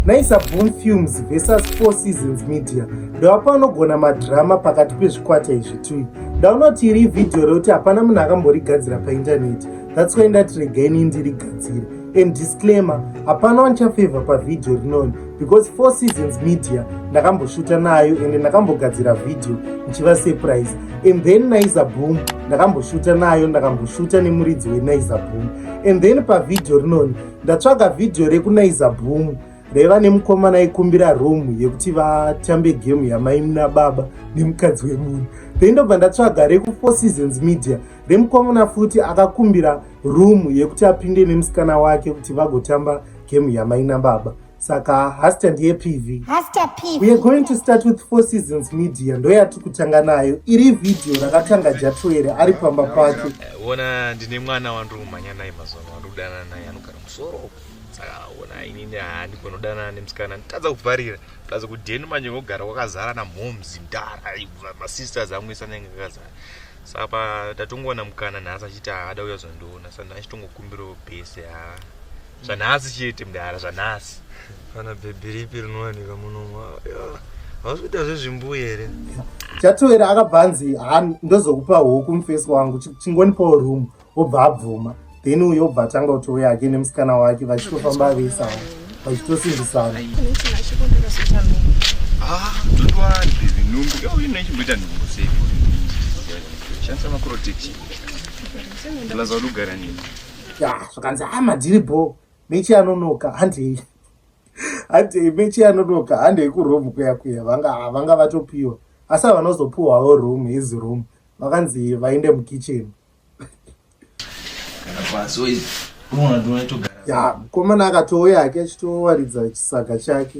Naisa Boom Films versus Four Seasons Media ndewapa anogona madrama pakati pezvikwata izvi tui ndaunoti iri vhidhiyo rekuti hapana munhu akamborigadzira paindaneti that's why ndati regai ini ndirigadzire and disclaimer hapana wanichafevha pavhidhiyo rinoni because Four Seasons Media ndakamboshuta nayo ende ndakambogadzira vhidhiyo ndichiva surprise and then Naiza Boom ndakamboshuta nayo ndakamboshuta nemuridzi weNaiza Boom and then pavhidhiyo rinoni Ndatsvaga video rekunaiza boom raiva nemukomana aikumbira room yekuti vatambe game yamaimuna baba nemukadzi wemunhu then ndobva ndatsvaga rekufour seasons media remukomana futi akakumbira room yekuti apinde nemusikana wake kuti vagotamba game yamaina baba saka haster ndiye pv weare going to start with four seasons media ndoyati kutanga nayo iri vhidhiyo rakatanga jatoere ari pamba pake eh, ona ndine mwana wandiri kumhanya naye mazuva ano wandiri kudanana naye anogara musoro saka ona inini handi kunodanana nemusikana nditadza kuvharira plus kudheni manje kogara kwakazara namhoms ndara masisters amwisa nenge kakazara saka pa tatongoona mukana nhasi achiti haada uya zondiona saka ndachitongokumbirawo bese haa zvanhasi chete mdara zvanhasi kana bhebhi ripi rinowanika munomwa hausi kuita zvezvimbuyi here chatoera akabva anzi ha ndozokupa huku mufesi wangu chingonipawo room obva abvuma then uyo obva atanga kuti uya ake nemusikana wake vachitofamba veisana vachitosimbisana ah, shandisa makuroteki lazauti ugara nini ya zvakanzi hama dziri bho mechi anonoka handei handei mechi anonoka handei kuroom kuya kuya vanga vanga vatopiwa asi avanozopiwawo room his room vakanzi vaende mukitchen ya mukomana akatouya ake achitowaridza chisaga chake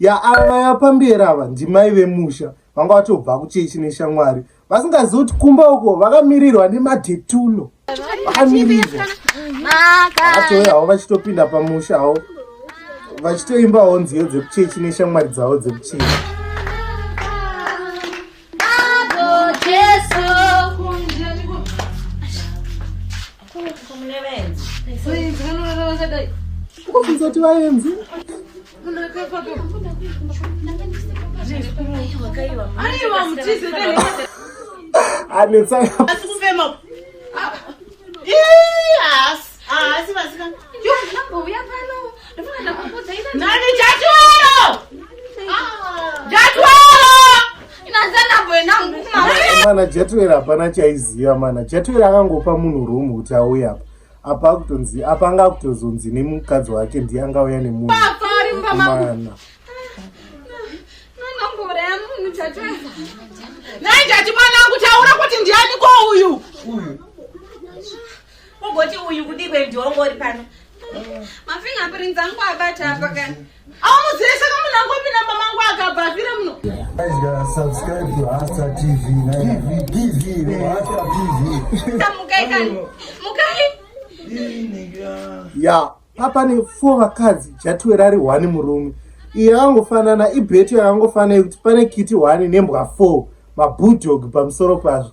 ya ava vaya pamberi ava ndimai vemusha vanga vatobva kuchechi neshamwari vasingazivi kuti kumba uko vakamirirwa nemadetulo vakamirirwa vatouya havo vachitopinda pamusha havo vachitoimbawo nziyo dzekuchechi neshamwari dzavo dzekuchechi Please, I don't know what I was like. mana jatuera hapana chaiziva mana jatuera akangopa munhu room kuti auye apa apa akutonzi apa anga akutozonzi nemukadzi wake ndiye angauya nemunhuana naitati mwana angu taura kuti ndiani ko uyu ugoti uyu kudikwe ndiongori pano mafinga pirinzi angu abata apa kani subscribe to Hasta TV. TV, TV, Hasta TV. Ya, apa ne four vakadzi jatiwe rari one murume. Iye angofanana ibheto yakangofanana kuti pane kiti one nembwa four mabudog pamusoro pazvo.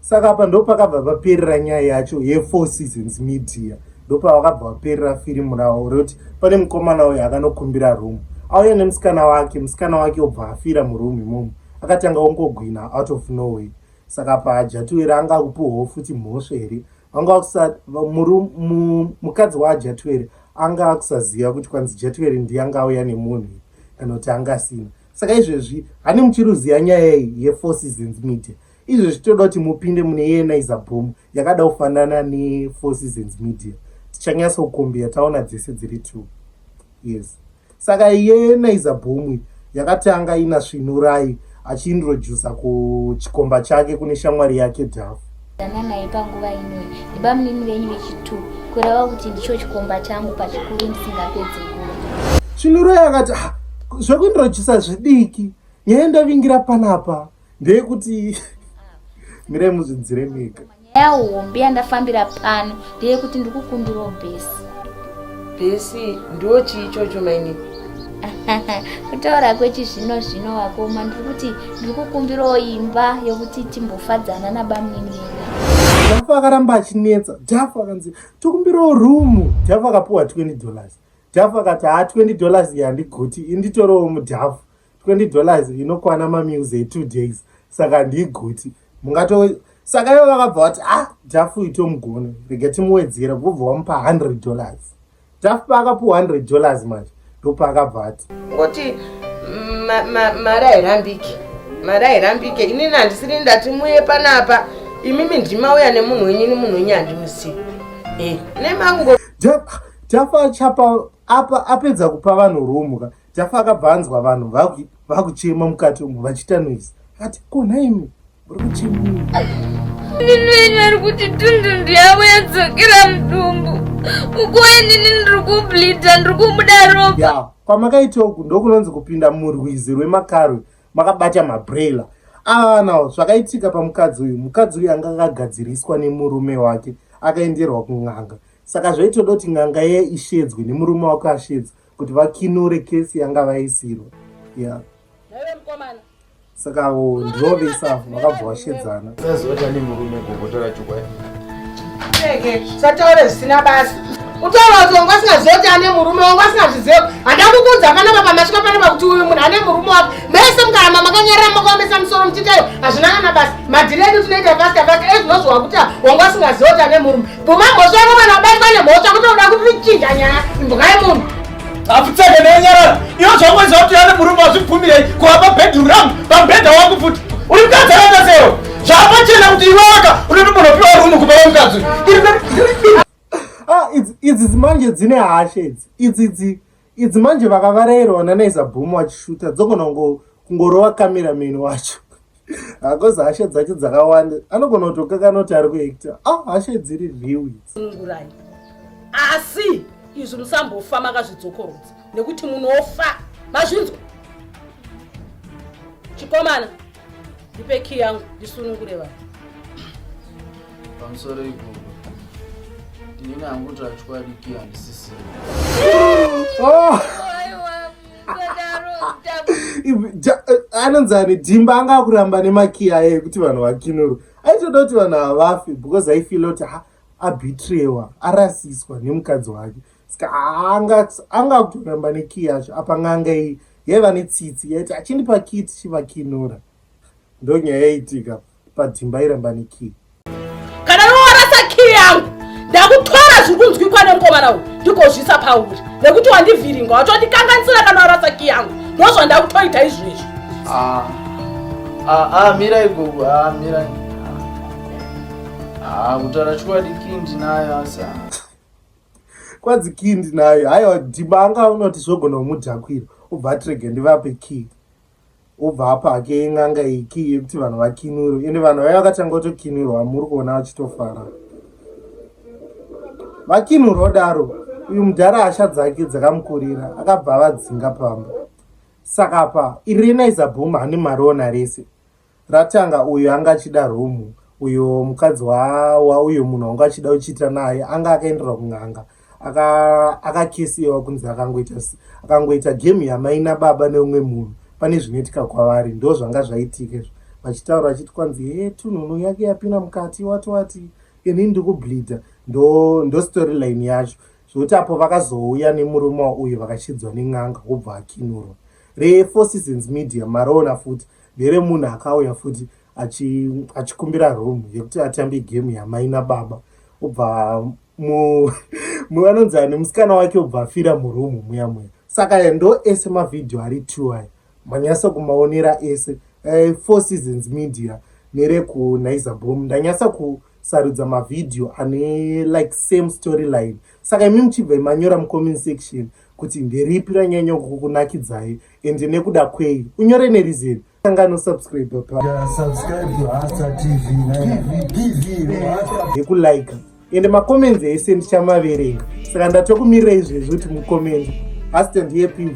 saka apa ndopakabva paperera nyaya yacho yefour seasons media ndopavakabva vaperera firimu ravo rekuti pane mukomana uyo akanokumbira room auya nemusikana wake musikana wake obva afira muroom imomo akatanga ongogwina out of noway saka paajatuwera anga akupiwawo futi mhosva here vanga vakusa mukadzi waajatuwere anga akusaziva kuti kwanzi jatuwere ndiye anga auya nemunhu kana kuti angasina saka izvezvi hani muchiruziva nyaya iyi yefour seasons media Izvo zvichitoda kuti mupinde mune yenizer boom yakada kufanana nefour seasons media tichanyasa kukombia taona dzese dziri two yes saka yenizer boom yakatanga ina svinurai achiintrodusa kuchikomba chake kune shamwari yake dhafu dananai panguva inoyi nebamunini venyu vechitu kureva kuti ndicho chikomba changu pachikuru ndisingapedzi nguva svinurai akati ah, zvekuintrodusa zvidiki nyaya ndavingira panapa ndeyekuti mirai muzvidzire mega nyaya hombe yandafambira pano ndeyekuti ndikukumbirawo bhesi bhesi ndo chii chocho maini kutaura kwechizvino zvino wakoma ndiri kuti ndiri kukumbirawo imba yokuti timbofadzana nabamunini jafu akaramba achinetsa jafu akanzi tokumbirawo rumu jafu akapiwa 20 dollars jafu akati haa 20 dollars yandigoti inditorewo mujafu 20 dollars inokwana mameals etwo days saka handiiguti mungato saka ivo vakabva vati a ah, dhafu itomugona rega timuwedzera vobva wamupa 100 dollars dhafu paakapiwa 100 dollars manje ndopaakabva ati ngoti mari hairambike mari hairambike inini handisiri ndati muye panapa imimi ndimauya nemunhu wenyu ini munhu wenyu handimusiyi eh, nemango dhafu achapa apa apedza kupa vanhu rumu ka Jafa akabva anzwa vanhu vakuchema mukati umu vachiita noise ati ko nhaimi muri kuchema ndinoina ari kuti tundundu yavo yadzokera mudumbu ukuwe nini ndiri kublida ndiri kumuda ropa ya kwamakaita uku ndokunonzi kupinda murwizi rwemakarwe makabata mabrela aanawo zvakaitika pamukadzi uyu mukadzi uyu anga akagadziriswa nemurume wake akaenderwa kun'anga saka zvaitoda kuti n'anga iye ishedzwe nemurume wake ashedzwa kuti vakinure kesi yanga vaisirwa ya saka ndivo vese avo vakabva vashedzana sazota nemurume gogotora chokwadi sataure zvisina basa utaura kuti wanga usingazoti ane murume wanga usingazviziva handakukuudza panapa pamasvika panapa kuti uyu munhu ane murume wako mese mukaramba makanyarira makaomesa musoro muchitayo hazvina kana basa madhiri edu tinoita pasta pasta ezvinozviwa kuti wanga usingaziva kuti ane murume Bvuma mhosva yako kana wabatwa nemhosva kutoda kuti tichinja nyaya imbwai munhu. Apfutseke naye nyarara. Iwe zvakuziva kuti ane murume wazvibvumirei kuva pabedroom rangu pamubhedha wangu futi. Uri mukadzi akaita sewe. Zvapachena kuti iwe waka unoti munhu opiwa rumu kupa wemukadzi. Ah, idzi manje dzine hashe idzi. Idzi idzi. Idzi manje vakavarairwa nanaiza boom wachishuta dzogona kungorova kamira meni wacho hakozi hasha dzacho dzakawanda anogona kutokakana kuti ari kuekta a ah, hasha dziri riwitsungurai asi izvi musambofa makazvidzokorodza nekuti munofa mazvinzwa chikomana Ndipe key yangu ndisunungure vanhu. Pamusoro ipopo ndini hangu tachokwadi key handisisiri. Oh! Eh, anonzi ane dhimba anga akuramba nemakiya aye kuti vanhu vakinurwe aitoda kuti vanhu havafe because aifila kuti abitrewa arasiswa nemukadzi wake ska anga anga kuramba ne key yacho apa nganga iyi yaiva ne tsitsi yaiti achindipa key tichivakinura ndo nyaya yaitika padzimba iramba ne key kana iworasa key yangu ndakutora zviri kunzwikwa nemukomana uyu ndikozvisa pauri nekuti wandivhiringa watondikanganisira kana warasa key yangu ndozvandakutoita izvezvi ah, ah, ah, mirai gogo mirai kutaura chokwadi key ndinayo asa kwanzi kii ndinayo haiwa dhimba anga unoti zvogona kumudhakwira obva atirege ndivape kii obva apa hake yen'anga iyi kii yekuti vanhu vakinurwe ende vanhu vaiva vakatanga kutokinurwa muri kuona vachitofara vakinurwa odaro uyu mudhara hasha dzake dzakamukurira akabva avadzinga pamba saka pa irina izabhuma hane mariona rese Ratanga uyo anga achida room uyo mukadzi wa, wa uyo munhu wanga achida uchiita naye anga akaenderwa kun'anga akakisiwa aka kunzi akangoita akangoita game yamai nababa neumwe munhu pane zvinoitika kwavari ndo zvanga zvaitika izvo vachitaura vachiti kwanzi he tunhunu yake yapinda mukati wati wati ini ndikubleeda ndo, ndo storyline yacho zvokuti apo vakazouya nemurume wauyo vakachidzwa nen'anga wobva akinurwa refour seasons media maroona futi Here munhu akauya futi achi achikumbira room yekuti atambe game yamai nababa obva mu muvanonzi ani musikana wake obva afira muroom muya muya saka ya ndo ese mavhidhiyo ari two aya manyasa kumaonera ese eh, four seasons media nerekunaiza bom ndanyasa ku sarudza mavhidhiyo ane like same storyline saka imi muchibva manyora mucomment section kuti nderipi ranyanya kukunakidzai ende nekuda kwei unyore nerizeni sangano subscribe paekulike ende macomments ese ndichamaverenga saka ndatokumirira izvezvi kuti mucommenti hastand yepv